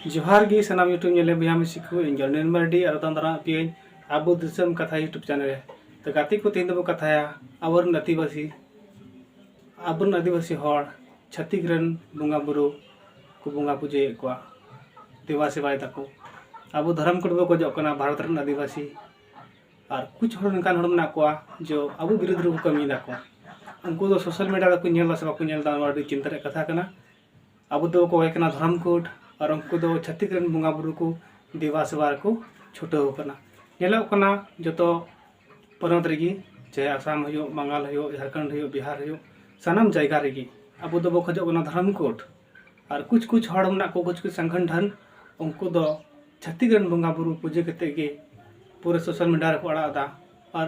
ᱡᱚᱦᱟᱨ ᱜᱮ ᱥᱟᱱᱟᱢ ᱭᱩᱴᱩᱵᱽ ᱧᱮᱞᱮ ᱵᱚᱭᱦᱟ ᱢᱤᱥᱤ ᱠᱚ ᱤᱧ ᱡᱚᱱᱮᱱ ᱢᱟᱨᱰᱤ ᱟᱨ ᱫᱟᱱ ᱫᱟᱨᱟᱢ ᱯᱤᱭᱟᱹᱧ ᱟᱵᱚ ᱫᱤᱥᱚᱢ ᱠᱟᱛᱷᱟ ᱭᱩᱴᱩᱵᱽ ᱪᱮᱱᱮᱞ ᱨᱮ ᱛᱚ ᱜᱟᱛᱮ ᱠᱚ ᱛᱮᱦᱮᱧ ᱫᱚᱵᱚ ᱠᱟᱛᱷᱟᱭᱟ ᱟᱵᱚᱨᱮᱱ ᱟᱹᱫᱤᱵᱟᱹᱥᱤ ᱟᱵᱚᱨᱮᱱ ᱟᱹᱫᱤᱵᱟᱹᱥᱤ ᱦᱚᱲ ᱪᱷᱟᱹᱛᱤᱠ ᱨᱮᱱ ᱵᱚᱸᱜᱟ ᱵᱩᱨᱩ ᱠᱚ ᱵᱚᱸᱜᱟ ᱯᱩᱡᱟᱹᱭᱮᱫ ᱠᱚᱣᱟ ᱫᱮᱵᱟ ᱥᱮᱵᱟᱭ ᱫᱟᱠᱚ ᱟᱵᱚ ᱫᱷᱚᱨᱚᱢ ᱠᱳᱰ ᱵᱚ ᱠᱷᱚᱡᱚᱜ ᱠᱟᱱᱟ ᱵᱷᱟᱨᱚᱛ ᱨᱮᱱ ᱟᱹᱫᱤᱵᱟᱹᱥᱤ ᱟᱨ ᱠᱩᱪ ᱦᱚᱲ ᱱᱚᱝᱠᱟᱱ ᱦᱚᱲ ᱢᱮᱱᱟᱜ ᱠᱚᱣᱟ ᱡᱮ ᱟᱵᱚ ᱵᱤᱨᱩᱫᱷ ᱨᱮᱠᱚ ᱠᱟᱹᱢᱤᱭ ᱫᱟᱠᱚ ᱩᱱᱠᱩ ᱫᱚ ᱥᱳᱥᱟᱞ ᱢᱤᱰᱤᱭᱟ ᱨᱮᱠᱚ ᱧᱮᱞ ᱫᱟᱥᱮ ᱵᱟᱠᱚ ᱧᱮᱞ ᱫᱟ ᱱᱚᱣᱟ ᱟᱹᱰᱤ ᱪᱤᱱᱛᱟᱹ ᱨᱮᱭᱟᱜ ᱠᱟᱛᱷᱟ ᱠᱟᱱᱟ ᱟᱵᱚ ᱫᱚ ᱠᱚ ᱦᱩᱭᱩᱜ ᱠᱟᱱᱟ ᱫᱷᱚᱨᱚᱢ ᱠᱳᱰ ᱟᱨ ᱩᱱᱠᱩ ᱫᱚ ᱪᱷᱟᱹᱛᱤᱠ ᱨᱮᱱ ᱵᱚᱸᱜᱟ ᱵᱳᱨᱳ ᱠᱚ ᱫᱮᱵᱟ ᱥᱮᱵᱟ ᱨᱮᱠᱚ ᱪᱷᱩᱴᱟᱹᱣ ᱟᱠᱟᱱᱟ ᱧᱮᱞᱚᱜ ᱠᱟᱱᱟ ᱡᱚᱛᱚ ᱯᱚᱱᱚᱛ ᱨᱮᱜᱮ ᱪᱟᱦᱮ ᱟᱥᱟᱢ ᱦᱩᱭᱩᱜ ᱵᱟᱝᱜᱟᱞ ᱦᱩᱭᱩᱜ ᱡᱷᱟᱲᱠᱷᱚᱸᱰ ᱦᱩᱭᱩᱜ ᱵᱤᱦᱟᱨ ᱦᱩᱭᱩᱜ ᱥᱟᱱᱟᱢ ᱡᱟᱭᱜᱟ ᱨᱮᱜᱮ ᱟᱵᱚ ᱫᱚᱵᱚ ᱠᱷᱚᱡᱚᱜ ᱠᱟᱱᱟ ᱫᱷᱚᱨᱚᱢ ᱠᱳᱰ ᱟᱨ ᱠᱩᱪ ᱠᱩᱪ ᱦᱚᱲ ᱢᱮᱱᱟᱜ ᱠᱚᱣᱟ ᱠᱩᱪ ᱠᱩᱪ ᱥᱚᱝᱜᱚᱴᱷᱚᱱ ᱩᱱᱠᱩ ᱫᱚ ᱪᱷᱟᱹᱛᱤᱠ ᱨᱮᱱ ᱵᱚᱸᱜᱟ ᱵᱳᱨᱳ ᱯᱩᱡᱟᱹ ᱠᱟᱛᱮᱫ ᱜᱮ ᱯᱩᱨᱟᱹ ᱥᱳᱥᱟᱞ ᱢᱤᱰᱤᱭᱟ ᱨᱮᱠᱚ ᱟᱲᱟᱜ ᱮᱫᱟ ᱟᱨ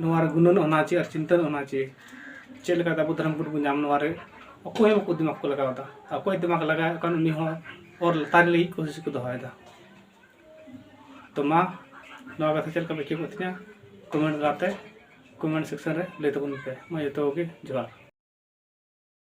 ᱱᱚᱣᱟ ᱨᱮ ᱜᱩᱱᱟᱹᱱ ᱚᱱᱟ ᱪᱮ ᱟᱨ ᱪᱤᱱᱛᱟᱹ ᱚᱱᱟ ᱪᱮ ᱪᱮᱫ ᱞᱮᱠᱟᱛᱮ ᱟᱵᱚ ᱫᱷᱚᱨᱚᱢ ᱠᱳᱰ ᱵᱚᱱ ᱧᱟᱢ ᱱᱚᱣᱟ ᱨᱮ ᱚᱠᱚᱭ ᱦᱚᱸ ᱵᱟᱠᱚ ᱫᱤᱢᱟᱜᱽ ᱠᱚ ᱞᱟᱜᱟᱣ ᱮᱫᱟ ᱚᱠᱚᱭ ᱫᱤᱢᱟᱜᱽ ᱞᱟᱜᱟᱣᱮᱫ ᱠᱟᱱ ᱩᱱᱤ ᱦᱚᱸ ᱚᱨ ᱞᱟᱛᱟᱨ ᱞᱟᱹᱜᱤᱫ ᱠᱳᱥᱤᱥ ᱠᱚ ᱫᱚᱦᱚᱭᱮᱫᱟ ᱛᱚ ᱢᱟ ᱱᱚᱣᱟ ᱠᱟᱛᱷᱟ ᱪᱮᱫ ᱞᱮᱠᱟ ᱯᱮ ᱟᱹᱭᱠᱟᱹᱣ ᱠᱮᱫ ᱛᱤᱧᱟ ᱠᱚᱢᱮᱱᱴ ᱛᱟᱞᱟᱛᱮ ᱠᱚᱢᱮᱱᱴ ᱥᱮᱠᱥᱚᱱ ᱨᱮ ᱞᱟᱹᱭ ᱛᱟᱵᱚᱱ ᱯᱮ ᱢᱟ ᱡᱚᱛᱚ ᱠᱚᱜᱮ ᱡᱚᱦᱟᱨ